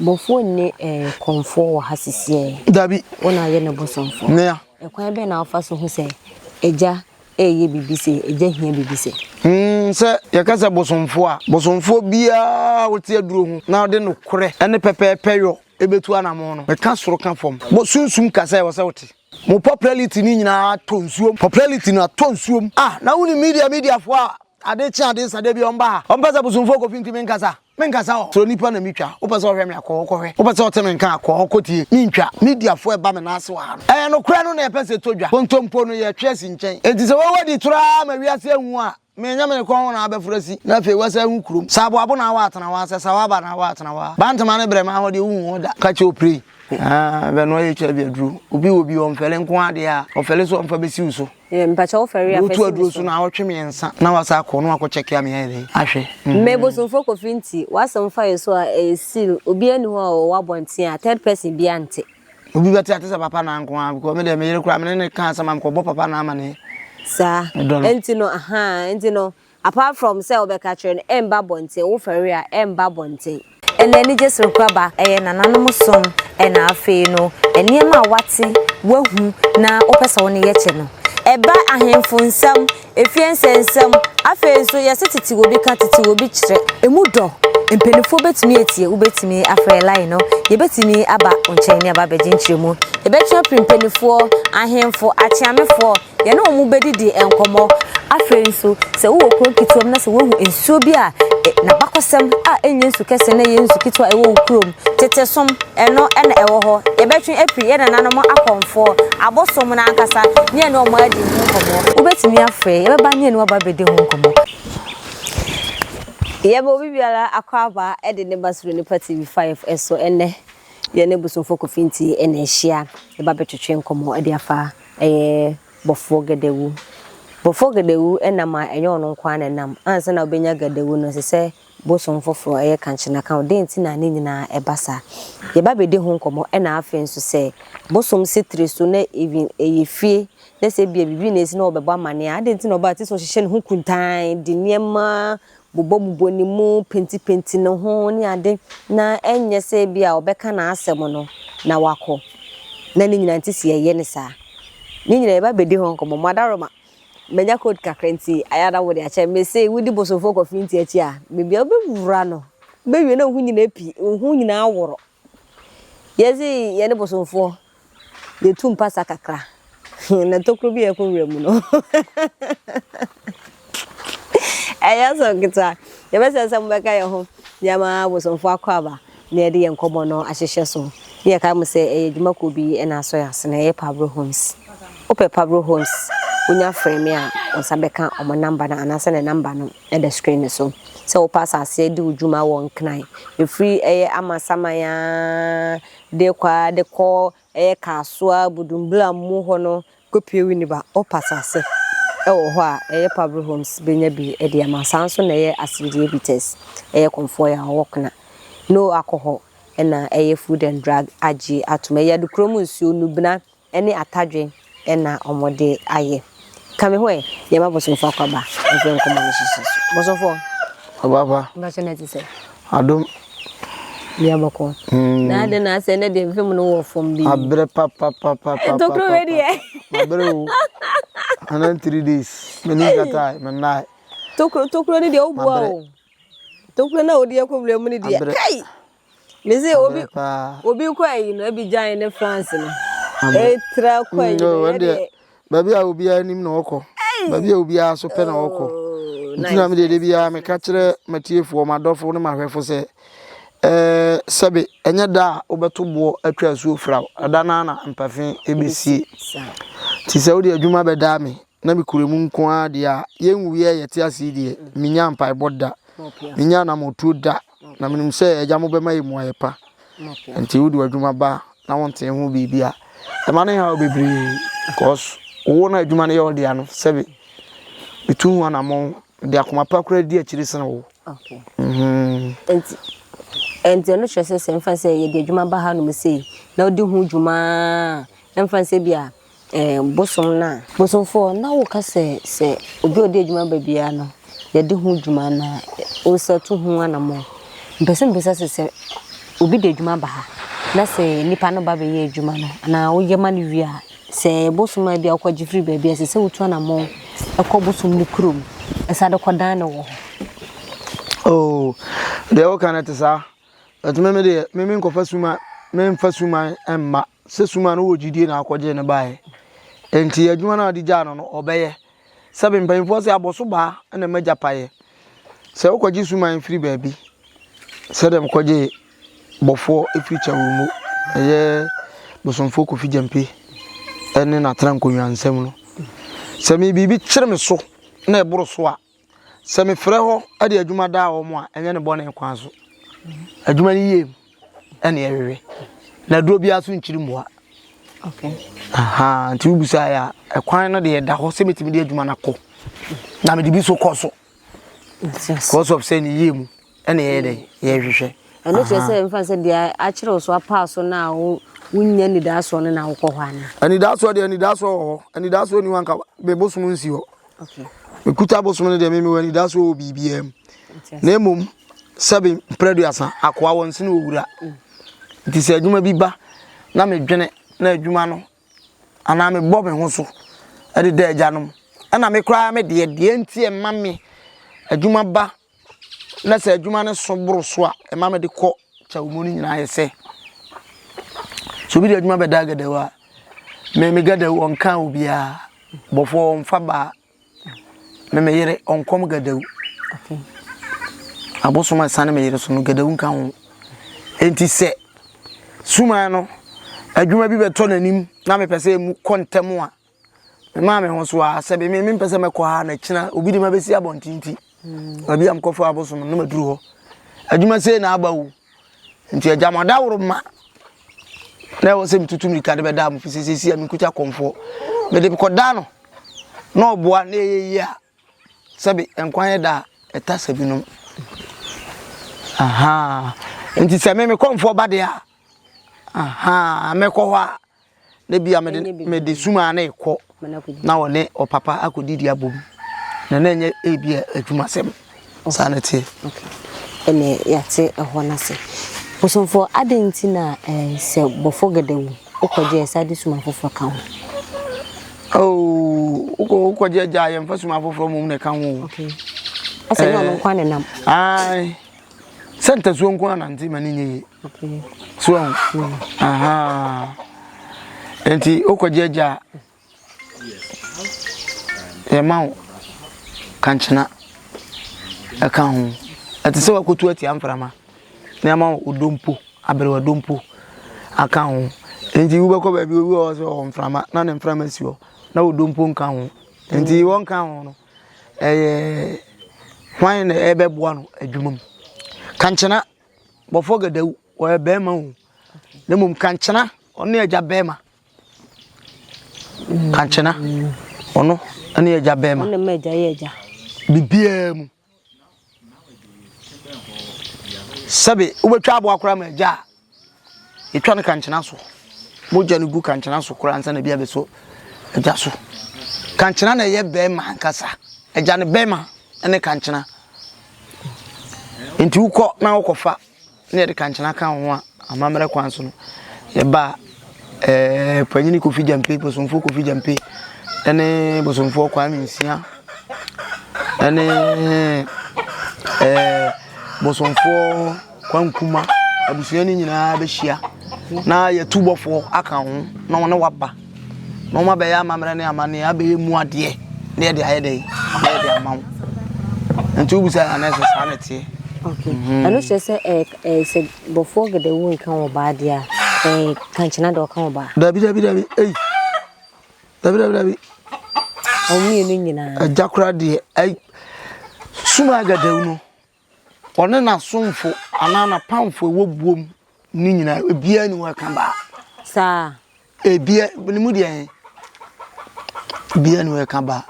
Bɔfoɔ nni eh, kɔmfoɔ wɔ ha sisiɛɛ. Dabi. Wo na ayɛ no bosomfoɔ. Nea. Ɛkwan bɛn na wofa so hu sɛ Agya reyɛ biribi sei, Agya hia biribi sei? Hmm, sɛ yɛka sɛ bosomfoɔ a, bosomfoɔ biara a ɔte aduro ho na ɔde nokorɛ ne pɛpɛɛpɛ yɔ bɛtu anamɔn no, meka soro ka fam, bɔ sunsum ka sɛ ɛwɔ sɛ wote. Mo popularity no nyinaa atɔ nsuom, popularity no atɔ nsuom. Ah, na wonim media mediafoɔ a ade kye ade sa da biara wɔmba ha, wɔmpɛ sɛ bosomfoɔ kɔfi nti menka saa? Menkasa o, sɛ onipa na metwa, wopɛ sɛ ɔhwɛ me a, kɔ hɔ kɔhwɛ, wopɛ sɛ ɔte me nka a, kɔ hɔ kɔtie. Mentwa, mediafoɔ ɛba me nan ase wɔ ha no. Ɛyɛ nokorɛ no na yɛpɛ sɛ ɛtɔ dwa. Kontompo no, yɛtwe asi nkyɛn. Enti sɛ woawɔ di toro ara ma wiase ahu a, menyɛ me kɔn ho na wabɛforo asi, na afei woasan ahu kurom. Sɛ aboabo na awɔ atena hɔ a, sɛ sawa aba na awɔ atena hɔ a. Bantama ne brɛma ahɔ deɛ, wonhu wɔn da. Ka kyerɛ oprɛi. Haa, bɛnoa HIV aduro. Obi wɔ bi a, ɔmfɛle nko ara deɛ a, ɔfɛle so a ɔmfa bɛsi wo so. Eh, mpakyɛ wo fɛre afɛ si aduro so na awɔtwe mmiɛnsa na wasa akɔ na wakɔ kyɛke a meyɛ dɛ ahwɛ mm. me bosomfo kofi nti wasɛm fa yɛ so a ɛyɛ seal obi ani hɔ a ɔwɔ abɔnten a third person bi ante obi bɛte ate sɛ papa na nko a because me deɛ meyere koraa mene ne ka asɛm a mekɔbɔ papa na ama ne saa ɛnti no aha ɛnti no apart from sɛ wobɛka kyerɛ no ɛmba abɔnten, wofɛre a ɛmba abɔnten. Ɛna anigye serekoraba ɛyɛ nananom som ɛna afei no nneɛma a wate, wahu na wopɛ sɛ wo ne yɛ kyɛ no. Ɛba ahemfo nsɛm, efie nsɛnsɛm, afei nso yɛse tete wɔ bi ka, tete wɔ bi kyerɛ. Ɛmu dɔ, mpaninfoɔ bɛtumi atie, wobɛtumi afrɛ line no, yɛbɛtumi aba wo nkyɛn ne aba abɛgye nkyerɛmu, yɛbɛtwe apiri mpaninfoɔ, ahemfo, akyeamefoɔ, Yɛne wɔn bɛdidi nkɔmmɔ. Afei nso, sɛ wowɔ kuro nketewa mu na sɛ woahu nsuo bi a n'abakɔsɛm a ɛnyɛ nsu kɛseɛ na ɛyɛ nsu ketewa a ɛwɔ wo kurom, tete som, ɛno na ɛwɔ hɔ. Yɛbɛtwe afiri yɛn nananom akɔmfoɔ, abosom no ankasa, ne yɛne wɔn adi ho nkɔmmɔ. Wobɛtumi afrɛ yɛn bɛba ne yɛne wo aba abɛdi ho nkɔmmɔ. Yɛma obi biara akwaaba de ne ba suro Nipa TV 5 so. Ɛnnɛ, yɛne Bosunfoɔ Kofi Nti na ɛhyia. Yɛba abɛtwetwe nkɔmmɔ de afa. Ɛyɛ Bɔfoɔ Gadawu. Bɔfoɔ Gadawu nam a ɛnyɛ ɔno nko ara na ɛnam. Ansa na wobɛnya Gadawu no, ɛsɛ sɛ bosom foforɔ, ɛyɛ kankyena ka ho. Dɛn nti na ne nyinaa ɛba saa? Yɛba abɛdi ho nkɔmmɔ ɛna afei nso sɛ bosom si tiri so na even ɛyɛ fie na sɛ ebia biribi na ɛsi na wɔbɛbɔ amanneɛ a, adɛn nti na ɔbaa tiri so hyehyɛ ne ho kuntann de nneɛma bobɔbobɔ ne mu, pentipenti ne ho ne ade na ɛnyɛ sɛ ebia ɔbɛka n'asɛm no na wakɔ. Na ne nyinaa nti si yɛyɛ no saa. Ne nyinaa yɛba bɛdi ho nkɔmmɔ. Mo adaworoma, manya cold kakra nti ayɛ a na wode akyɛ me se wodi bosomfoɔ kɔfe nti akyi a, baabi a wobɛwura no, wobɛwie na wo ho nyinaa api, wo ho nyinaa aworo. Yɛdze hɛn bosomfoɔ yetu mpasa kakra na tokuro bi a ɛkɔ nwura mu no ɛnyɛ asɛm ketewa. Yɛbɛsrɛ sɛ mobɛka yɛn ho na yɛama abosomfoɔ akɔ aba na yɛde yɛn nkɔmmɔ no ahyehyɛ so. Na yɛkae mo sɛ ɛyɛ adwuma kuo bi na asɔ yɛn ase na ɛyɛ Pablo Homes. Wopɛ Pablo Homes, wonya frɛ me a wo nsa bɛka wɔn namba no anaasɛ ne namba no. da screen no so sɛ wopɛ asase adi wo dwuma wɔ nkran ɛfiri ɛyɛ amasaman aa de kɔ aa de kɔ ɛyɛ kaasoa budumbura mu hɔ no kɔpie winiba wopɛ asase ɛwɔ hɔ a ɛyɛ pabro homes bɛnya bi ɛde ama saa nso na ɛyɛ asmdie bites ɛyɛ kɔmfoɔ aa ɔwɔ kena no akɔ hɔ ɛna ɛyɛ food and drug agye atom ɛyɛ adukurom nsuo nubena ne atadwe na wɔde ayɛ. Ka me ho ɛ, yɛma bosomfo akwaba mfiri nkɔmmɔ no hyehye so. Bosomfo. Ɔbaba. Mpakyɛ na ti sɛ. Adom. Bia bɔkɔ. Mm. Na adɛ na asɛ ne deɛ fam no wɔ fam bi. Abrɛ pa pa pa pa pa. Ntokuro wɛ deɛ. Abrɛ o. Anan three days. Me ni kata, me nai. Tokuro tokuro ne deɛ o bua o. Tokuro na o deɛ kɔ wura mu ne deɛ. Kai. Mese obi obi kɔ ayi no ebi gyan ne France no. Etra kɔ ayi no yɛ deɛ. Baabi a obiara nim na ɔkɔ. Baabi a obiara so pɛ na ɔkɔ. Oh, Nti na me deɛ de biara meka kyerɛ matiefoɔ madɔfo ne mahwɛfo sɛ ɛɛ sɛbe ɛnyɛ da a wobɛto boɔ atwa asuo firaw ɛda no na mpafe ɛbɛsie. Nti sɛ wode adwuma bɛdaa me na mekura mu nko ara deɛ a yɛnwuiɛ yɛte ase deɛ menya mpaebɔ da menya anamɔtuo da Na menim sɛ Agya mo bɛma yɛ mmuaeɛ pa. Enti wode w'adwuma ba na wontee ho biribi a, ɛma no haw bebree. Because wo na adwuma no yɛ wo dea no, sɛbe metu ho anammɔn de akoma pa koraa di akyire sene wo. Enti, enti ɛno kyerɛ sɛ sɛ ɛmfa sɛ yɛde adwuma ba hanom sei na wodi ho dwuma a, ɛmfa sɛ bi a eh, bosom no a. Bosomfoɔ, na woka sɛ, sɛ obi a ɔde adwuma ba biara no, yɛde ho dwuma na wosa tu ho anammɔn. Mpɛ sɛ mbisa sɛ, sɛ obi de adwuma ba ha, na sɛ nipa no ba bɛyɛ adwuma no, anaa woyɛ ma no wie a, sɛ bosom a ebi a wokɔgye firi baabi a, ɛsɛ sɛ wotu anammɔn kɔ bosom no kurom, ɛsa de kɔdan no wɔ hɔ. Oh, deɛ woka no te saa. But me me deɛ me me nkɔfa suman me nfa suman mma sɛ suman no wɔ gyidie na akɔgye ne baeɛ nti adwuma no a ɔde gyaa no no ɔbɛyɛ sɛbe mpanyinfoɔ sɛ abɔso baa na ɛma gya paeɛ sɛ wokɔgye suman firi baabi sɛ dɛm kɔgye bɔfoɔ firi kyɛwo mu ɛyɛ bosomfoɔ kofi gyampe ɛne n'atena nkonnwa nsɛm no sɛ me biribi kyerɛ me so na ɛboro so a Sɛ mefrɛ hɔ de adwuma daa wɔn a, ɛnyɛ ne bɔne kwan so. Adwuma no yie mu ɛne ɛwewe. Na aduro biara so nkyiri mmoa. Okay. Aha, nti wobisa yɛ a, ɛkwan no deɛ ɛda hɔ sɛ metumi de adwuma no akɔ. Na mede bi so kɔ so. Because of sɛ ne yie mu. ɛna yɛyɛ dɛ yɛhwehwɛ. ɛno kyerɛ sɛ mfa sɛ deɛ akyerɛ wo so apaa so no a wonya nidaasoɔ no na wokɔ hɔ anaa anidaasoɔ deɛ anidaasoɔ wɔ hɔ anidaasoɔ ni hɔ anka mebosom nsi hɔ mekuta bosom no deɛ memewɔ anidaasoɔ wɔ biribiaa mu na mmom sɛbe mprɛduasa akoa wɔ nsene ɔwura mm. nti sɛ adwuma bi ba na medwene na adwuma no anaa mebɔ me ho so ɛde da agyanom ɛna me koraa me deɛ deɛ nti ɛma me adwuma ba na sɛ adwuma no so boro so a ɛma mede kɔ kyɛw mu no nyinaa yɛ sɛ sɛ obi de adwuma bɛda agadawu a meme gadawu ɔnka obiara bɔfoɔ ɔmfa baa me me yere ɔnkɔm gadawu abosom ɛsa ne me yere so no gadawu nka ho enti sɛ suman no adwuma bi bɛtɔ n'anim na mepɛ sɛ mu kɔ ntɛm a Memaa me ho so ara sɛ me mempɛ sɛ mɛkɔ ha na kyena obi de ma bɛsi abɔnten nti baabi a mekɔfra abosom no na maduru hɔ adwuma sei na aba o nti agya mo adaworo ma na ɛwɔ sɛ metutu mirika de bɛda mo fi sɛ sɛsi a menkuta kɔmfoɔ mede kɔda no na ɔboa na ɛyɛ yie a Sɛbi nkwa yɛ da a ɛtasa binom. Ahaa. Nti sɛ me me kɔmfoɔ ba deɛ a, ahaa, mɛkɔ hɔ a, na bi a me de sumaa ne kɔ na ɔne ɔpapa akɔdidi abom. Na na ɛnyɛ ebi a adwuma sɛm. Saa na ɛteɛ. Okay. Ɛnna yɛate ɛhɔ no ase. Bosomfoɔ, adɛn nti na eh, sɛ bɔfo gɛdɛ wu, wokɔgye ɛsa de suma foforɔ ka ho? Oh, wokɔ wokɔgye agya a yɛmfa suma foforɔ mmom na ɛka ho. Okay. Asɛ nyɛ ɔno eh, nko ne nam. Ae. Sɛ ntasuo nko anante ma ne nyɛ yie. Okay. So, mm. aha. Nti wokɔgye agya a Yɛma wo kankyena ɛka ho. Ɛte sɛ wakotu atia mframa na yɛma wo odompo, aberewa dompo aka ho. Nti wobɛkɔ baabi obi wɔ hɔ sɛ ɔwɔ mframa na ne mframa si hɔ na odompo nka ho. Nti wɔnka ho no ɛyɛ hwan na ɛbɛboa no adwuma mu. Kankyena bɔfɔ gadawu ɔyɛ bɛrima o na mmom kankyena ɔne agya bɛrima. Kankyena, ɔno ne agya bɛrima. Ɔno ma agya yɛ agya. Biribiara mu. Sɛbe wobɛtwa aboa koraa ma agya a, ɛtwa no kankyena so. Mogya no gu kankyena so koraa ansa na bi abɛsɔ agya so. Kankyena na ɛyɛ bɛrima ankasa. Agya no bɛrima ne kankyena. Nti wokɔ na wokɔfa na yɛde kankyena ka ho a amammerɛ kwan so no yɛba ɛɛ panyini kofi gyampe bosomfoɔ kofi gyampe ɛne bosomfoɔ kwame nsia ɛne ɛɛ bosomfoɔ kwankuma abusua no nyinaa bɛhyia na yɛtu bɔfoɔ aka ho na wɔne waba Na wɔn abɛyɛ amammerɛ ne amanneɛ abɛyɛ mu adeɛ na yɛde ayɛ dɛn ama yɛde ama wo nti wobisa yɛ anɛ sɛ saa na ɛteɛ mhm. ɛno kyerɛ sɛ eh, eh, sɛ bɔfoɔ gɛdɛwu nka wɔ baa deɛ a eh, kankyena dɛ ɔka wɔ baa dabi dabi dabi ei dabi dabi dabi ɔmmienu nyinaa agya kora deɛ ei suma gɛdɛwu no Ɔne n'asomfo anaa n'apamfo a ɛwɔ buo mu no nyinaa, ebiara nni hɔ a ɛka baa. Saa. Ebia, ne mu deɛ ebiara nni hɔ a ɛka baa.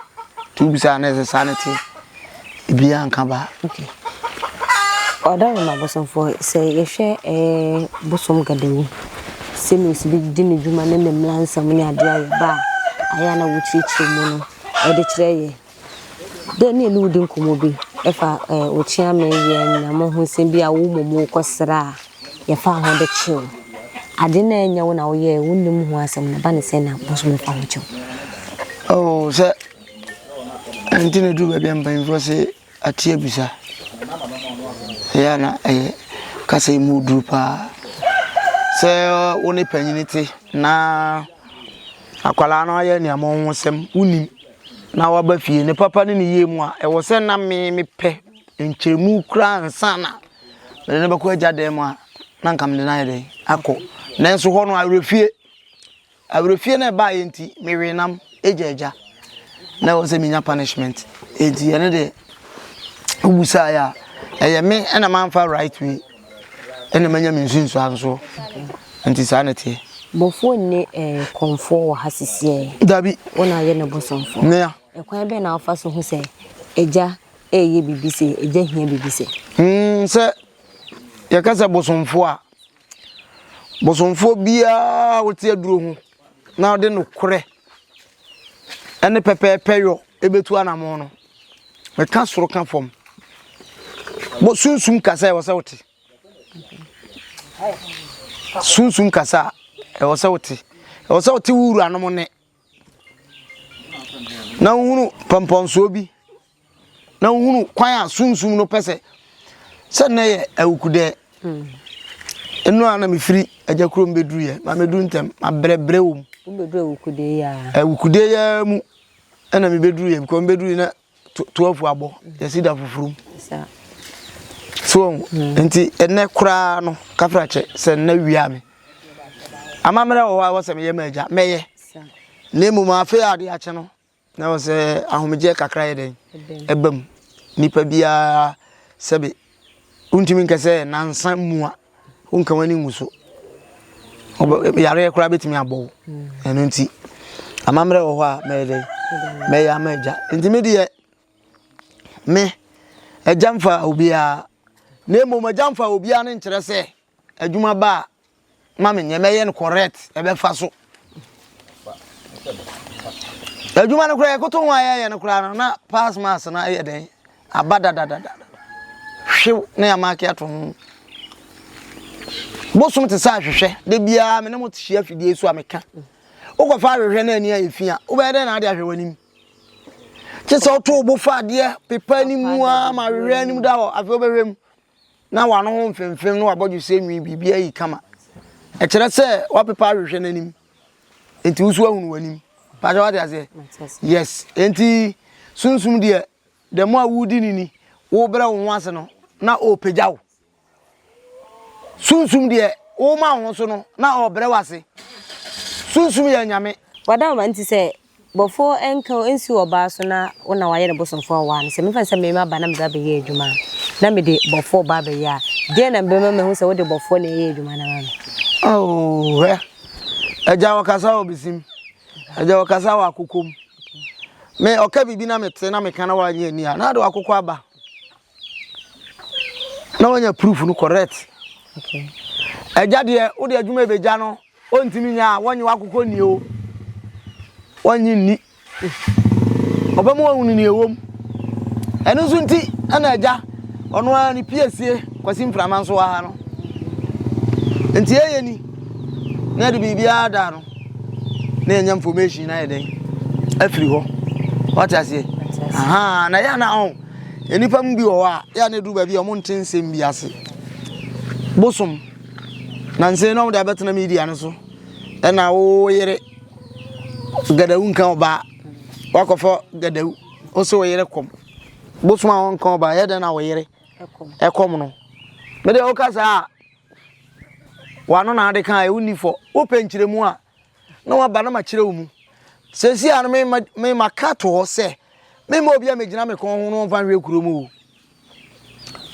Nti wobisa a na ɛsɛ saa na ɛte. Ebiara nka baa. Okay. Ɔda no ma bosomfoɔ sɛ yɛhwɛ eh, bosom gadawu sɛnea osi bi di ne dwuma ne ne mmara nsɛm ne adeɛ a yɛba a ayɛ a na wokyerɛkyerɛ mu no ɛde kyerɛ yɛn. Dɛ nna wodzi nkɔmbɔ bi fa okyiame yɛ nyame ho nsɛm bi a wo mom wo kɔ serɛ a yɛfaa ho de kyeew adze nna nnyɛ wo na wo yɛɛ wo nna mu ho asɛm na ba ne sɛ na bosoom no fa ho kyew. Oh sɛ ntsi na edu baabi a mpanyinfoɔ se ate abisa ɛyɛ a na ɛyɛ kasa yi mu duru paa sɛ wo ne panyini te na akwadaa no ayɛ nneɛma ho nsɛm wonim. na waba fie, ne papa ne ne yie mu a, ɛwɔ sɛ na me mepɛ nkyɛmu koraa ansa na mede no bɛkɔ agya dan mu a na nka mede no ayɛ dɛn akɔ nanso hɔ no awerɛfie awerɛfie no ɛbaeɛ nti mewee nam agya agya na ɛwɔ sɛ menya punishment ɛnti ɛno deɛ wobusaeɛ a ɛyɛ me ɛna mamfa right way Ɛna manya me nsunsuan nso. Nti saa na ɛteɛ. Bɔfoɔ nni eh, kɔmfoɔ wɔ ha sisi eh. Dabi. Wo na ayɛ no bosomfoɔ. Nea. Ɛkwan bɛn na wofa so hu sɛ agya ɛreyɛ biribi sɛ, agya hia biribi sɛ? Mm, sɛ yɛka sɛ bosomfoɔ a, bosomfoɔ biara wote aduro ho na ɔde nokorɛ ɛne pɛpɛɛpɛ yɔ ɛbɛtu anamɔ no. meka soro ka fam mo sunsum kasa ɛwɔ sɛ wote sunsum kasa ɛwɔ sɛ wote ɛwɔ sɛ wote wo wuranom ne na wohunu pɔmpɔnsoɔ bi na wohunu kwan a sunsum no pɛ sɛ sɛ nnɛ yɛ awukudɛ ɛno a na mefiri agya kurom bɛduruyɛ ma mɛduru ntɛm mabrɛbrɛ wɔ mu awukudeyɛ mu Ɛna mi bɛ duru yɛ bikɔ mi bɛ duru yɛ na twelve abɔ yɛsi da foforo mu so wɔn hmm. nti ɛnɛ koraa no kafra kyɛ sɛ nna wia mi amammerɛ wɔ hɔ a wɔsɛ meyɛ mɛgya mɛyɛ na mmom afe a ade akyɛ no na wɔsɛ ahomegyeɛ kakra yɛ dɛn ɛbam nipa biara sɛbi Wontumi nka sɛ nansa mua, wonka w'ani ngu so. Yareɛ koraa bɛtumi abɔ wo. Mm. Ɛno nti, amammerɛ wɔ hɔ a mɛyɛ dɛ mɛyɛ ama agya. Nti me deɛ me agya mfa obiara na mmom agya mfa obiara no nkyerɛ sɛ Adwuma ba a, ma me nyɛ, mɛyɛ no correct, ɛbɛfa so. Adwuma no koraa yɛkoto ho a yɛyɛ no koraa no na pass marks no ayɛ dɛn aba dadadada hwew na yɛamaake ato ho. Bosom te sɛ ahwehwɛ, da biara me ne mo hyia fidie so a meka. Wokɔfa ahwehwɛ no ani a ɛfi a, wobɛyɛ dɛn na ade ahwɛ w'anim? Kye sɛ woto wo bo fa adeɛ pepa anim a ma ahwehwɛ anim da hɔ, afei wobɛhwɛ mu. na w'ano ho mfemfem ne w'abɔdwesɛ nwi biribiara ayi kama. Ɛkyerɛ sɛ wapepa ahwehwɛ n'anim. Enti wo so ahunu w'anim. Pakyɛ wate aseɛ? Yes. Enti sunsum deɛ the more a wodi ne ni, wobrɛ wo ho ase no, na ɔrepagya wo. Sunsum deɛ woma wo ho so no, na ɔrebrɛ wo ase. Sunsum yɛ anyame. Wada wo ma nti sɛ Bɔfoɔ nka o, nsi ɔbaa so na wo na wayɛ ne bosomfoɔ a ɔwaa no. Sɛ mefa no sɛ me mma ba na mede abɛyɛ adwuma a, na mede bɔfoɔ ba abɛyɛ a, deɛn na mebɛma mahu sɛ wode bɔfoɔ na ɛyɛ adwuma no ama me? Ao, hwɛ! Agya ɔkasa wɔ besim, agya ɔkasa wɔ akokom. Me, ɔka biribi na mete na meka na wanyɛ ani a, na ade wakokɔ aba. Na wanya proof no correct. Okay. Agya deɛ, wode adwuma ɛbɛgya no, Ɔntumi nyɛ a, wɔnnye w'akokɔ nni o, wɔnnye nni. Ɔbɛ mu ɔhunu ni ɛwom. Ɛno nso nti ɛna agya ɔno ara ne piesie kwasi mframa nso wɔ ha no. Nti ɛyɛ ni na ɛde biribiara da no na ɛnya information na yɛ dɛn afiri hɔ. Wɔte aseɛ? Aha, na yɛ na ɔn. Oh, nnipa mu bi wɔ hɔ a yɛ na ɛduru baabi a wɔn nte nsɛm bi ase. Bosom. Nansa yi na wɔde abɛtena media no so ɛna wo yere gadawu nka ɔbaa wakɔfɔ gadawu wo se wo yere kɔm bosom a wɔnka ɔbaa yɛ dɛn na wo yere ɛkɔm no mede woka saa a wano na ade ka a wonni fɔ wopɛ nkyerɛmu a na waba na makyerɛ wo mu sɛsi a no mema ka to hɔ sɛ mema obi a megyina me kɔn ho no ɔmfa nhwɛ kuro mu o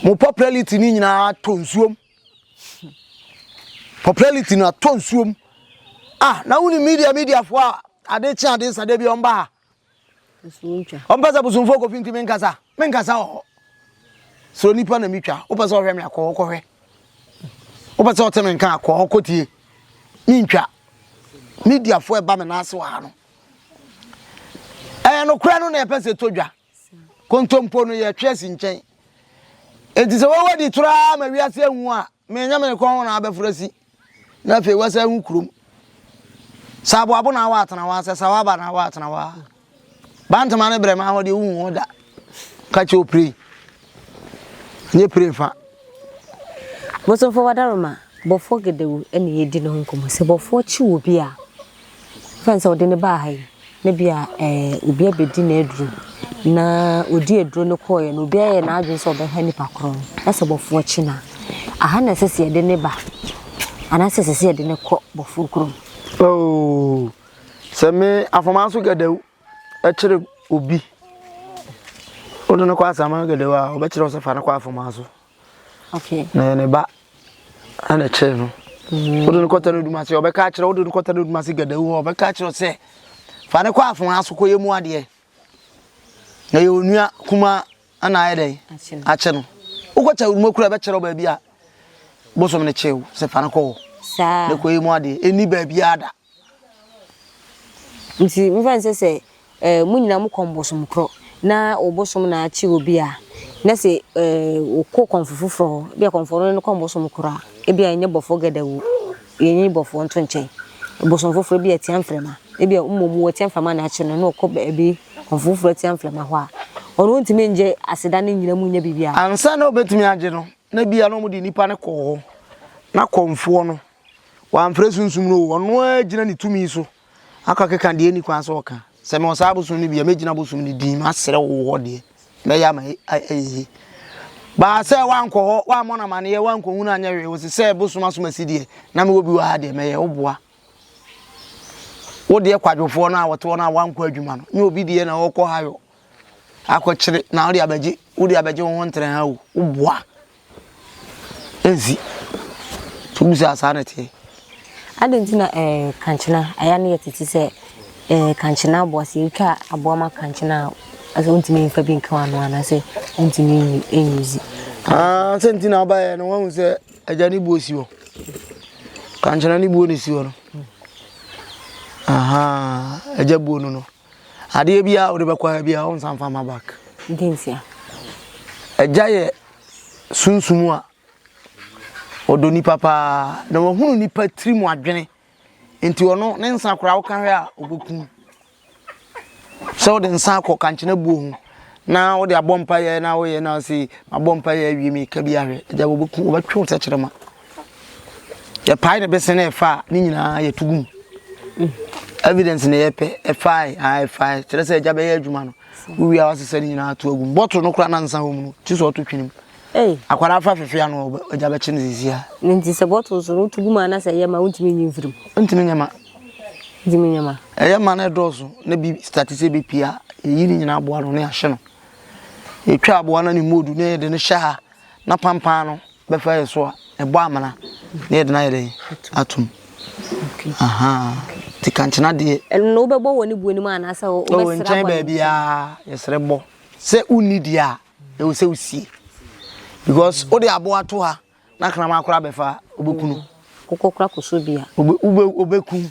mo popularity no nyinaa tɔ nsuom Popularity no atɔ nsuo mu. Ah, na wone media media foɔ a ade kye ade sa da bi ɔmba ha. Ɔmpɛ sɛ bosomfoɔ kɔfi nti menkasa. Menkasa wɔ hɔ. Sɛ onipa na metwa, wopɛ sɛ ɔhwɛ me akɔ hɔ kɔhwɛ. Wopɛ sɛ ɔte me nka akɔ hɔ kɔtie. Mentwa. Mediafoɔ ɛba me nan ase wɔ ha no. Ɛyɛ nokorɛ no na ɛpɛ sɛ ɛtɔ dwa. Kontompo no yɛ twerɛsi nkyɛn. Enti sɛ wowɔ di toro ara ma wiase ahu a, menyɛ me kɔn na abɛforo asi. Na afei wasa ahu kurom. Sɛ aboabo na awɔ atena hɔ sɛ sawaba na awɔ atena hɔ a. Bantama ne brɛma hɔ deɛ wohu hɔ da. Ka kyɛ opire. Nye pire fa. Bosomfoɔ Wadaroma, bɔfoɔ Gedawu na yɛredi ne ho nkɔmmɔ. Sɛ bɔfoɔ kye obi a. Esiane sɛ ɔde no baa ha yi, na ebia obi abedi n'aduru, na odii aduru no kɔeɛ no, obi ayɛ n'adwene sɛ ɔbɛha nipa korɔ no, na sɛ Bɔfoɔ kye no a, aha na ɛsɛ sɛ yɛde no ba anaasɛ ɛsɛ sɛ yɛde no kɔ Bɔfoɔ kurom? Oh, sɛ me afɔmaa so gɛdɛw kyere obi, wode no kɔ asɛmma gɛdɛw a, ɔbɛkyerɛ wo sɛ fa no kɔ afɔmaa so. na yɛ ne ba ɛna ɛkyɛɛ no mm. wode no kɔtɛ no dumase ɔbɛka akyerɛ wode no kɔtɛ no dumase gadawu hɔ ɔbɛka akyerɛ sɛ fa ne kɔ afon aso kɔ yɛ mu adeɛ na yɛ onua kuma ɛna ayɛ dɛn akyɛ no wokɔkyɛ wuruma kura ɛbɛkyerɛ wo baabi a bosom no kyew sɛ fa no kɔ hɔ ne kɔ yɛ mu adeɛ ɛni baabi ada Ntsi momfa no sɛ sɛ eh, mo nyina mokɔ mbosom kor na wo bosom na akye obi a, na sɛ eh, wokɔ kɔmfo fofor hɔ, bi a kɔmfo no no kɔ mbosom kor a, bi a enye bɔfoɔ gadawu, enye bɔfoɔ nto nkyɛn. Bosom fofor, bi a tsia mframa, bi a mbom wɔtsia mframa na akye no na ɔkɔ beebi kɔmfo fofor atsia mframa hɔ a, ɔno onntumi nngye aseda ne nyina mu nnyɛ biribiara. Ansaana obetumi agye no, na bi a na wɔdze nyimpa no kɔ hɔ na kɔmfoɔ no Wamfrɛ sunsum no o, ɔno ara gyina ne tumi so akɔkeka deɛ ɛnni kwan sɛ ɔka. Sɛ mewɔ saa bosom no bi a, mɛgyina bosom no din, masrɛ wo wɔ hɔ deɛ, mɛyɛ ama ayɛ yie. Baa sɛ woankɔ hɔ, woammɔ no amaneɛ, woankɔhu no anyɛ hwee, wose sɛ bosom asomasi deɛ, na mewɔ bi wɔ ha deɛ, mɛyɛ wo boa. Wo deɛ kwadwofoɔ no a wɔte hɔ no a woankɔ adwuma no, nyɛ obi deɛ na ɔkɔ ha yɔ. akɔkyere na wode abɛgye wode abɛgye wo ho ntere ha o woboa ɛnsi nti wobu sɛ asaa na ɛteɛ adɛn nti na eh, kankyena ɛyɛ no yɛ tete sɛ eh, kankyena aboa sɛ yɛtwa aboa ma kankyena a sɛ wontumi mfa bi nka wano anaasɛ wontumi ɛnyɛ zi ah, sɛ nti na wobaeɛ no woahu sɛ agya ne buo si hɔ kankyena ne buo ne si hɔ no agya buo no no Adeɛ biara a wode bɛkɔ ayɛ biara wo nsa mfa mma back. Dɛn ntia? Agya yɛ sunsum a ɔdɔ nipa paa na wahunu nipa tiri mu adwene nti ɔno ne nsa koraa woka hwɛ a ɔbɛkum sɛ wode nsa akɔ kankyena buo ho na wode abɔ mpa yɛ na woyɛ na ɔse mabɔ mpa yɛ awie meka bi ahwɛ agya wɔbɛkum wɔbɛtwe wo sɛ kyerɛ ma yɛpae ne bese na ɛfa a ne nyinaa yɛto gu mu evidence na yɛpɛ ɛfae a ɛfae kyerɛ sɛ agya bɛyɛ adwuma no wowie a wasesɛ ne nyinaa to agu mu bɔtoro no kora na nsa wɔ mu no kyi sɛ ɔto twene mu akwara afa fefea no agya bɛkye no sisi a ne nti sɛ bɔtoro so no woto gu mu ana sɛ ɛyɛ ma wontumi nyi mfirim ntumi nyɛ ma ntumi nyɛ ma ɛyɛ ma no ɛdɔɔso na bi stati sɛ bɛpie a yɛyi ne nyinaa aboa no ne ahye no yɛtwa aboa no ne mmɔdu na yɛde no hyɛ ha Na pampaa no bɛfa yɛ so a, ɛbɔ amena na yɛde no ayɛ dɛn? Atom. Ahaa. Nti kankyena deɛ. Ɛno no wobɛbɔ wɔ ne buo no mu anaasɛ wobɛsrɛ abɔ ne nkyɛn? Nkyɛn baabiara yɛsrɛ bɔ. Sɛ wonni deɛ a, ɛwɔ sɛ wosie. Because wode aboa to ha na kraman koraa bɛfa a, wobɛku no. Wokɔkora kɔsɔ bi a. Wobɛku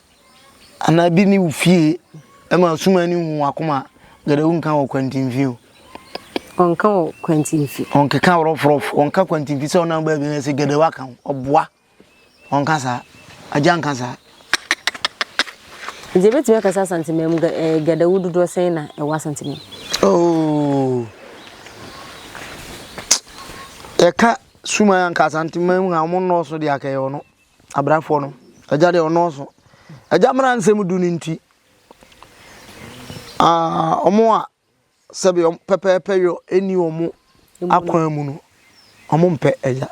anaa bi ne wo fie ɛma suma ne hu wakoma gɛdɛ wo nka wɔ kwantinfi o ɔnka wɔ kwantinfi ɔnkeka rɔfrɔf ɔnka kwantinfi sɛ ɔnam baabi na sɛ gɛdɛ waka ho ɔboa ɔnka saa agya nka saa nti ɛbɛtumi aka sɛ asantemɛ mu gɛdɛ wo dodoɔ sɛn na ɛwɔ asantemɛ oh. yɛka suma yɛnka asantemɛ mu a ɔmo nnɔɔso de akɛyɛ ɔno abrafoɔ no agya deɛ ɔnɔɔso agya mmara nsɛm du no nti wɔn a sɛbi wɔn pɛpɛɛpɛ yɔ ɛni wɔn akwan mu no wɔn mpɛ agya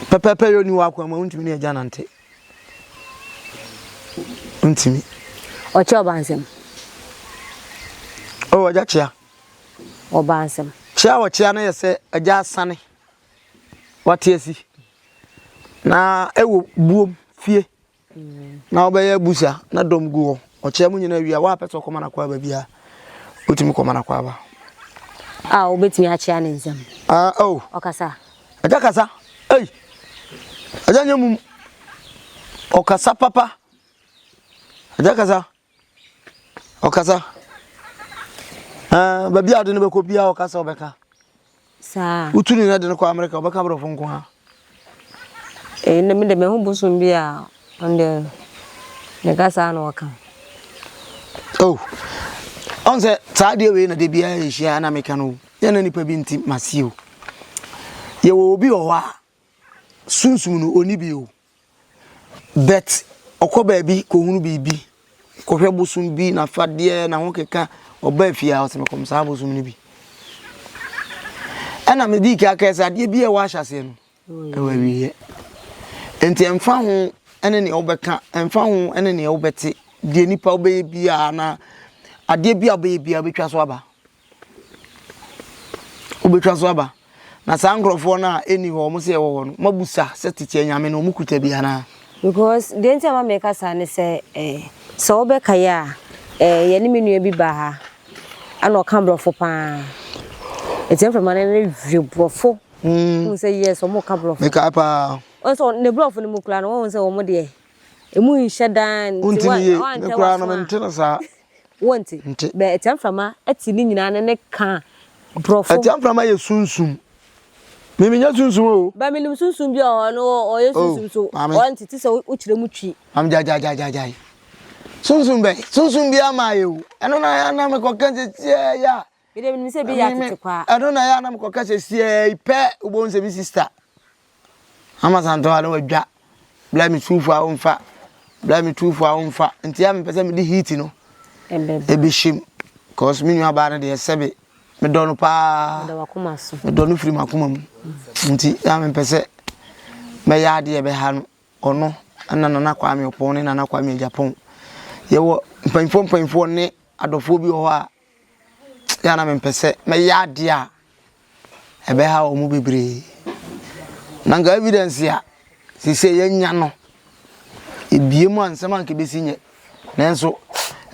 pɛpɛɛpɛ yɔ ni wɔn akwan mu ntumi ne agya nante ntumi. ɔkyɛ ɔba nsɛm. ɔwɔ agya kyea. ɔba nsɛm. kyea ɔkyea no yɛ sɛ agya asane. wate asi na ɛwɔ buom fie na wobɛyɛ abusa na dɔm gu hɔ ɔkyɛ mu nyina wie a woapɛ sɛ ɔkɔma no akɔ aba biara wotumi kɔma no akɔ aba a wobɛtumi akyea ne nsɛm ah, oh. ɔkasa ɛgya kasa ei ɛgya nyɛ mum ɔkasa papa ɛgya kasa Ɔkasa. Ɛɛ baabi a ɔde no bɛkɔ biara ɔkasa ɔbɛka. Saa. Wotu ne de no kɔ Amerika ɔbɛka borɔfo nko ara. Ee na me de me ho bosom bi a ɔnde ne kasa na ɔka. Oh. Ɔn sɛ saa deɛ wei na de biara yɛhyia na meka no o. Yɛ na nipa bi nti masi o. Yɛwɔ obi wɔ hɔ a Sunsum no onni bi o, but ɔkɔ baabi kɔhunu biribi, kɔhwɛ bosom bi, n'afadeɛ, n'ahokeka, ɔba efie a ɔsɛ mekɔm saa bosom no bi. Ɛna medii ka kae sɛ adeɛ bi a ɛwɔ ahyɛseɛ no, ɛwɔ awieɛ. Nti ɛmfa ho ne nea wobɛka, ɛmfa ho ne nea wobɛte, deɛ nipa wobɛyɛ biara na adeɛ bi a wobɛyɛ biara wobɛtwa so aba. Wobɛtwa so aba. Na saa nkurɔfoɔ no a ɛnni hɔ, wɔn sɛ yɛwɔ hɔ no, moabusa sɛ tete anyame no, wɔkuta bi anaa? Because, deɛ nti a ɛma meka saa ne sɛ, eh, sɛ wobɛkae a, eh, yɛne me nua bi baa ha, ɛna ɔka Borɔfo pa ara. Nti mframa no ne hwɛ Borɔfo. Mm. Wohu sɛ, yes, wɔn ka Borɔfo. Mekae pa ara. Wɔn sɛ, ne Borɔfo no mu koraa no, wɔn sɛ wɔn deɛ, ɛmu nhyɛ dan. Wontini yie, me koraa no, mente no saa. Wonte? Nte. Bɛ atiamframa te ne nyinaa ne ne ka borɔfo. Atiamframa yɛ sunsum. Me menyɛ sunsum o. Ba menim sunsum bi wɔ hɔ no ɔyɛ Oh, sunsum so maame. ɔnte te sɛ wo wo kyerɛ mu twi. Maame gyae gyae gyae gyae gyae. Sunsum bɛn? Sunsum biara mmaeɛ o. Ɛno na na mekɔka sɛ tiaa yɛ a Me deɛ menim sɛ bi yɛ Ɛmi me atete kwa. ɛno na ɛyɛ a na mekɔ ka sɛ siaa yi pɛ wobɛhu sɛ me sista ama santɔ a na wadwa bla me tuufo a womfa bla me tuufo a womfa nti a mepɛ sɛ mede heat no Ɛbɛba. ɛbɛhyɛm cause me nua baa no deɛ sɛbe medɔ no paa Meda wakoma so. medɔ no firi makoma mu nti a mepɛ sɛ mɛyɛ adeɛ ɛbɛha no ɔno ɛna nana kwame ɔpɔn ne nana kwame agyapɔn yɛwɔ mpanyinfoɔ mpanyinfoɔ ne adɔfoɔ bi wɔ hɔ a Ebia na mempɛ sɛ mɛyɛ adeɛ a ɛbɛha wɔn mu bebree. Na nka evidence a sese yɛnya no ebie mu a nsɛm a nka ebesi nyɛ. Nanso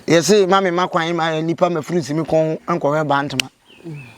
yɛse ma me ma kwan ma nipa ma firi nsi me kɔn ho nkɔhwɛ bantama.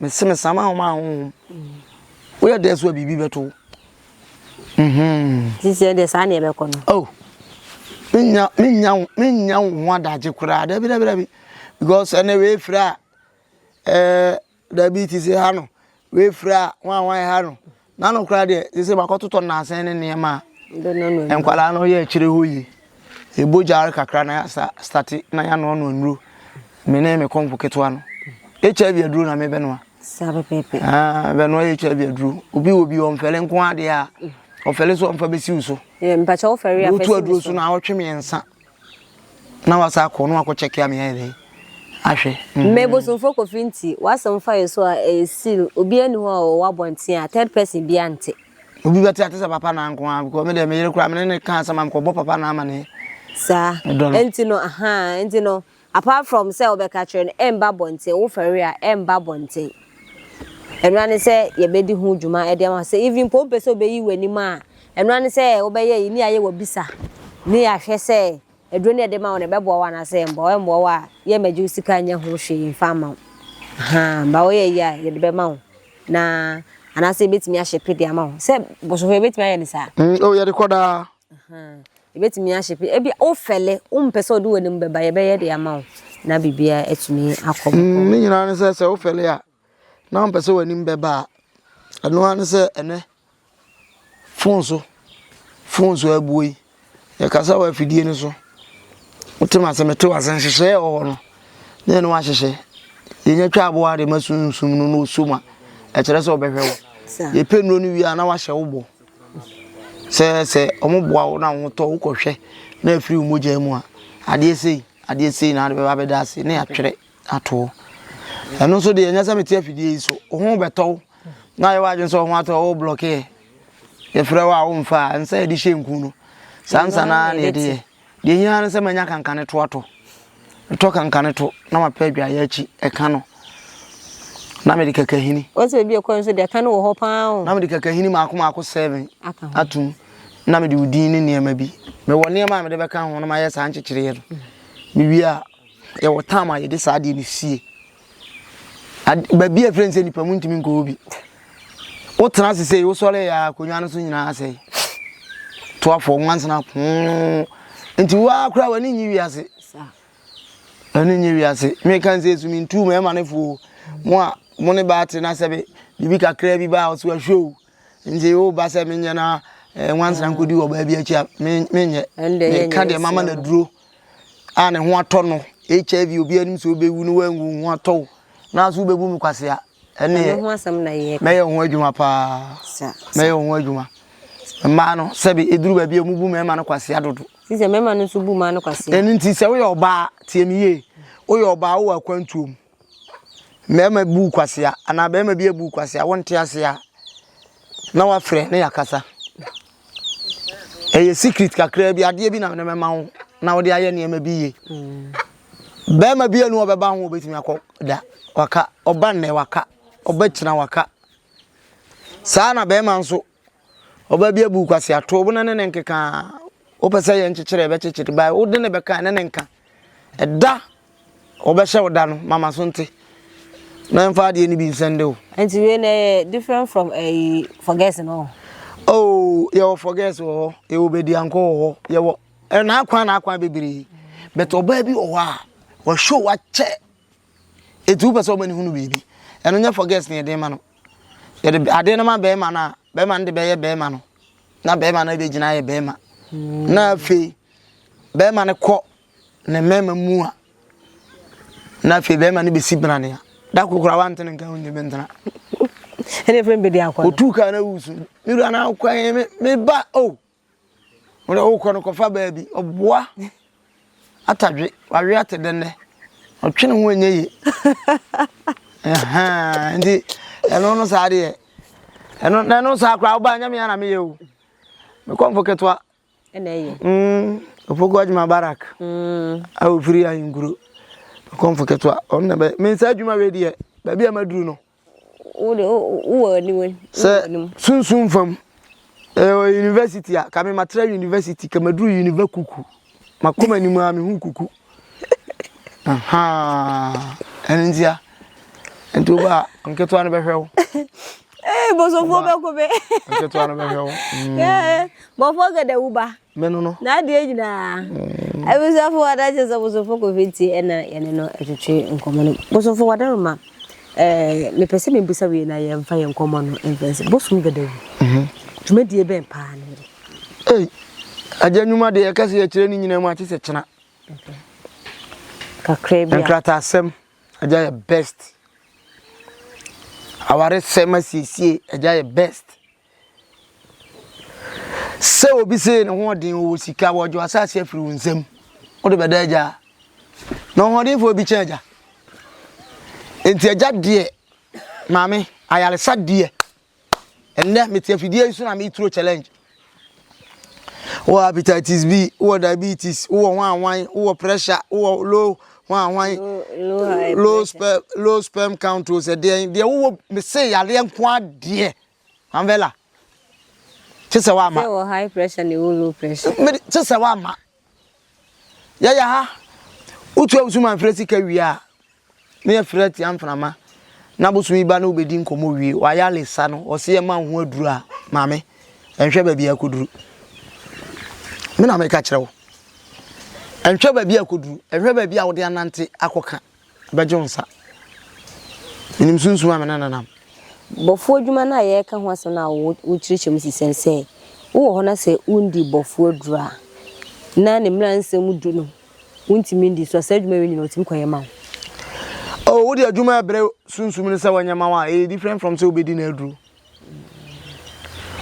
Mese mesam ahoma a honhom. Woyɛ dɛ so a biribi bɛto wo. Mhm. Sisi ɛdeɛ saa na ɛbɛkɔ no. Oh. Menya menya menya wo ho adagye koraa. Dabi dabi dabi. Because ɛnɛ wei firi a ɛɛ dabi ti sɛ ha no. Wei firi a wan wan ha no. N'ano koraa deɛ sese wakɔtotɔ nnansa ne nneɛma a nkwadaa no yɛ akyire hɔ yie. Ɛbɔ gyaare kakra na yɛasa state na yɛanoanoa nnuro. Me ne me kɔmfo ketewa no. HIV aduro na mebɛnoa. Saa pɛpɛpɛ. Ah, bɛnoa HIV aduro. Obi wɔ bi ɔmfɛle nko adeɛ a ɔfɛle so ɔmfa bɛsiw so. Yɛ mpakyɛ wofɛre a fɛsi so. Wotu aduro so na awɔtwe mmiɛnsa. Na wasa akɔ na wakɔ check ya me yɛ dɛ ahwɛ. Mhm. Me bosomfo kofi nti wasɛm fa yɛ so a ɛyɛ seal obi ani hɔ a ɔwɔ abɔnten a third person bi ante. Obi bɛte ate sɛ papa na nko a because me dɛ me yere kura me ne ne ka asɛm a mekɔbɔ papa na ama ne. Saa ɛnti no ahaa ɛnti no Apart from sɛ wobɛka kyerɛ no ɛmba abɔnten, wofɛre a ɛmba abɔnten. Ɛno ara ne sɛ yɛbɛdi ho dwuma de ama wo. Sɛ even mpo wompɛ sɛ wobɛyi w'anim a, ɛno ara ne sɛ wobɛyɛ ayi ne yɛayɛ w'abisa ne yɛahwɛ sɛ aduro no a yɛde ma wo no ɛbɛboa wo anaasɛ ɛmmoa wo. Ɛmmoa wo a, yɛremmɛgye wo sika nyɛ ho hwee mfa mma wo. Ahaa, but woyɛ yie a yɛde bɛma wo na anaasɛ yɛbɛtumi ahyepe de ama wo. Sɛ bosofoɔ yɛbɛtumi ayɛ no saa? Mm, oh, yɛde kɔ daa. Yɛbɛtumi ahyɛ pɛ ebi wo fɛle wo mpɛ sɛ ɔde w'anim bɛba yɛbɛyɛ de ama wo na biribiara atumi akɔ bɔkɔ. Ne nyinaa ne sɛ sɛ wo fɛle a na wo mpɛ sɛ w'anim bɛba a ɛno ara ne sɛ ɛnɛ fon so fon so abuo yi yɛkasa wɔ afidie no so wote ma sɛ mete w'ase nhyehyɛɛ wɔ hɔ no ne ɛno ahyehyɛ yɛnya twa aboa de ma sunsum no na ɔsum a ɛkyerɛ sɛ ɔbɛhwɛ wo yɛpɛ nnuro no wie a na wahyɛ wo bɔ Sɛ sɛ wɔn boa wo na wɔn tɔ wokɔ hwɛ na afiri wo mogya mu a adeɛ sei adeɛ sei na adebɛba bɛda ase ne atwerɛ ato ɛno nso deɛ ɛnyɛ sɛ mete afidie yi so wo ho bɛtɔ wo na ayɛ w'adwene sɛ wo ho atɔ wo blɔkeɛ yɛfrɛ wo a womfa a ɛnsɛ yɛde hyɛ nku no saa nsa no ara na yɛde yɛ Deɛ ɛhia ara ne sɛ manya kankane to ato. Metɔ kankane to na mapɛ adwaeɛ akyi ɛka no na mede kakahini. Wɔsɛ ebi ɛkɔ nso deɛ ɛka no wɔ hɔ paa o. Na mede kakahini mako mako seven atom na mede odin ne nneɛma bi. Mewɔ nneɛma a mede bɛka ho na mayɛ saa nkyekyereɛ no. Mewie a yɛwɔ tam a yɛde saa adeɛ no sie. baabi a ɛfrɛ no sɛ nipa mu ntumi nkɔ hɔ bi wotena ase sɛ wosɔre yɛ akonnwa no so nyinaa asɛe toafoɔ nwansena poo nti woa koraa w'ani nye wiase ɛno nye wiase meka sɛ ɛsumi ntuu ma ɛma no foo mo a mo ne baate no asɛ be biribi kakraa bi baa ɔso ahwɛ o nti woba sɛ menyɛ no a nwansena nkɔdi wɔ baabi akyi a menyɛ meka deɛ mama no aduro a ne ho atɔ no hiv obi anim sɛ wobɛwu no woanwu ho atɔ wo na so wobɛbu me kwasea ɛneɛ mɛyɛ wo ho adwuma paa mɛyɛ wo ho adwuma mmaa no sɛbe ɛduru baabi a ɔmu bu mmarima no kwasea dodo ɛno nti sɛ woyɛ ɔbaa tie me yie woyɛ ɔbaa wowɔ akwantuom Mmarima bu wo kwasea anaa barima bi abu wo kwasea, wonte ase a, na wafrɛ na yɛakasa. Ɛyɛ secret kakraa bi, adeɛ bi na mene mɛma wo na wode ayɛ nneɛma bi yie. Barima bi anu ɔbɛba ho obɛtumi akɔ da waka, ɔba nnɛ waka, ɔba kyina waka. Saa na barima nso Ɔbaa bi abu kwasi ato wo na ne ne nkeka wopɛ sɛ yɛ nkyekyere ɛbɛkyekyere bae wode ne bɛka ne ne nka ɛda wɔbɛhyɛ wo da no mama so nte na mfa adeɛ no bi nsɛn de wo. nti wei na ɛyɛ different from ɛyi eh, forget no. oh yɛwɔ forget wɔ hɔ yɛwɔ bɛdiankɔ wɔ hɔ yɛwɔ ɛna eh, akwan na akwan bebree bɛtɛ ɔbaa bi wɔ hɔ a wɔhwɛ wakyɛ Enti wopɛ sɛ ɔma no hunu biribi. Ɛno nyɛ forgets na yɛde ma no. Yɛde adeɛ no ma bɛrima no a, bɛrima no de bɛyɛ bɛrima no. Na bɛrima no bɛgyina ayɛ bɛrima. Mm. Na afei, bɛrima no kɔ ne mmarima mu a, na afei bɛrima no bɛsi bena ne a. Da kokora wante no nka wonye bɛntena. Ɛne ɛfrɛ mbɛdi akɔ no. Otu kaa na wusu. Mewura na akwan me ba o. Oh. Wode wokɔ no kɔfa baa bi ɔboa atadwe wawe ate dɛ nnɛ ɔtwe ne ho ɛnyɛ ye nti ɛno no saa deɛ ɛno na ɛno saa koraa wobaa nyame ana meyɛ o mekɔ mfo ketewa ɛna ɛyɛ ɔpoku mm, adwuma barak mm. a ɔfiri ahenkuro mekɔ mfo ketewa ɔno na bɛ mensa adwuma wei deɛ baabi a maduru no Sɛ sunsum fam, ɛyɛ university a, kame matra university, kɛ maduru univa kuku, makɔ m'anim a mehu kuku. Ɛno ntia, nti wo ba a, nketewa no bɛhwɛ wo. Ee, bosomfoɔ bɛko bɛ. Nketewa no bɛhwɛ wo. Bɔfoɔ gɛdɛ wo ba. Me no no. N'adeɛ nyinaa. Abusuafo wɔ adanse sɛ Bosomfo Kofi tie ɛna yɛne no twetwe nkɔmmɔ no. Bosomfo Wadaroma, eh, mepɛ sɛ mebusa wei na yɛmfa yɛn nkɔmmɔ no mfɛn sɛ Bosom Gadawu. Mhm. Dwumadie bɛn paa ne yɛ? Ei, agya nnwuma deɛ yɛka sɛ yɛkyerɛ ne nyinaa mu akye sɛ kyena. Kakra bi a. Nkrataasɛm, agya yɛ best. Awaresɛm asiesie, agya yɛ best. Sɛ obi see ne ho ɔden, ɔwɔ sika, wɔregye w'asase afiri wo nsam, wode bɛda agya a? Na ɔhoɔdenfoɔ bi kyɛn agya. Enti agya deɛ, maame, ayaresa deɛ, ɛnnɛ mete afidie yi so na meturo challenge. Wowɔ hepatitis B, wowɔ diabetes, wowɔ hwanhwan, wowɔ pressure, wowɔ low hwanhwan, low, low, sperm, low sperm count, sɛ deɛ, deɛ wowɔ, mese yareɛ nko adeɛ. Anvela, kye sɛ woama. Sɛ wɔ high pressure na ɛwɔ low pressure. Me kye sɛ woama. Yɛyɛ ha, wotua wo sumanfrɛ sika wie a, ne yɛfrɛ atia mframa na bosom yi ba ne wobɛdi nkɔmmɔ wie. Wayɛ alesa no, ɔse yɛma wo ho aduru a, maame, ɛnhwɛ baabi a akɔduru. Me na meka kyerɛ wo. Ɛnhwɛ baabi a akɔduru, ɛnhwɛ baabi a wode anante akɔka. bɛgye wo nsa. Menim sunsum a me ne no nam. Bɔfoɔ adwuma no a yɛreka ho asɛm no a wokyerɛkyerɛ mu sesɛn sɛ wowɔ hɔ na sɛ wondi bɔfoɔ aduro a na ne mmara nsɛm du no wontumi ndi so a saa adwuma wei nyina wɔtumi kɔyɛ ma wo. Oh, wode adwuma ɛbrɛ sunsum no sɛ wɔnyɛ ma wo a ɛyɛ different from sɛ wobɛdi no aduro.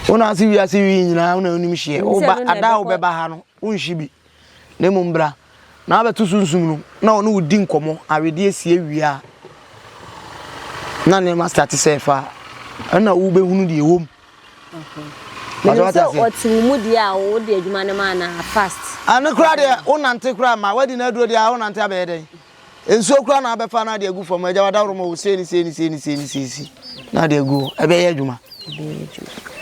Wona ase wiase wii nyinaa wona wonim hyeɛ woba ada a wobɛba ha no wonhye bi. Na mmom bra na abɛto Sunsum no na ɔne wo di nkɔmmɔ, awedeɛ si awie a na nneɛma starte sɛ ɛfa a, ɛna wobɛhunu deɛ ɛwɔ mu. Menim sɛ ɔte wo mu deɛ a wode adwuma no ma anaa fast. Ɛno koraa deɛ wonante koraa ma wadi no aduro deɛ a wonante abɛyɛ dɛn? Nsuo koraa na abɛfa na ade agu fam agya wadaworo ma wɔ sei ne sei ne sei ne sei ne sei si na ade agu hɔ ɛbɛyɛ adwuma. ɛbɛyɛ adwuma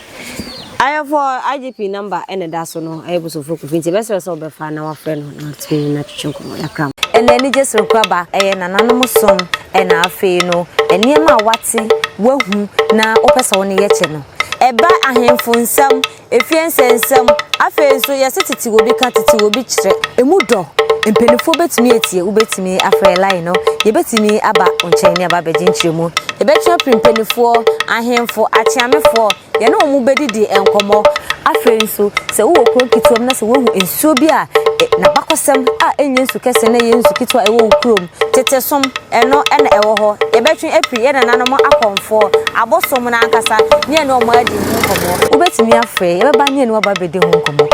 ayɛfo IGP namba ɛna ɛda so no ɛyɛ bosomfo kofi nti ɛbɛsrɛ sɛ ɔbɛfa na wafrɛ no na ɔtumi ne no atwetwe nkɔmmɔ yɛakra mo. Ɛna anigye soronko aba, ɛyɛ nananom som ɛna afei no nneɛma a wate, wahu na wopɛ sɛ wo ne yɛ kyɛ no ɛba ahemfo nsam. Efie nsɛnsɛm. Afei nso, yɛse tete obi ka, tete obi kyerɛ. Emu dɔ. Mpanimfoɔ bɛtumi atie. Wobɛtumi afrɛ line no. Yɛbɛtumi aba wo nkyɛn ne aba abɛgye nkyerɛmu. Yɛbɛtwe afiri mpanimfoɔ, ahemfo, akyeamefoɔ. Yɛne wɔn bɛdidi nkɔmmɔ. Afei nso, sɛ wowɔ kuro nketewa mu na sɛ woahu nsuo bi a n'abakɔsɛm a ɛnyɛ nsu kɛseɛ na ɛyɛ nsu ketewa a ɛwɔ wo kurom Tete som, ɛno na ɛwɔ hɔ. Yɛbɛtwe afiri yɛn nananom akɔmfoɔ, abosom no ankasa, ne yɛne wɔn adi ho nkɔmmɔ. Wobɛtumi afrɛ yɛn, yɛbɛba ne yɛne wo aba abɛdi ho nkɔmmɔ.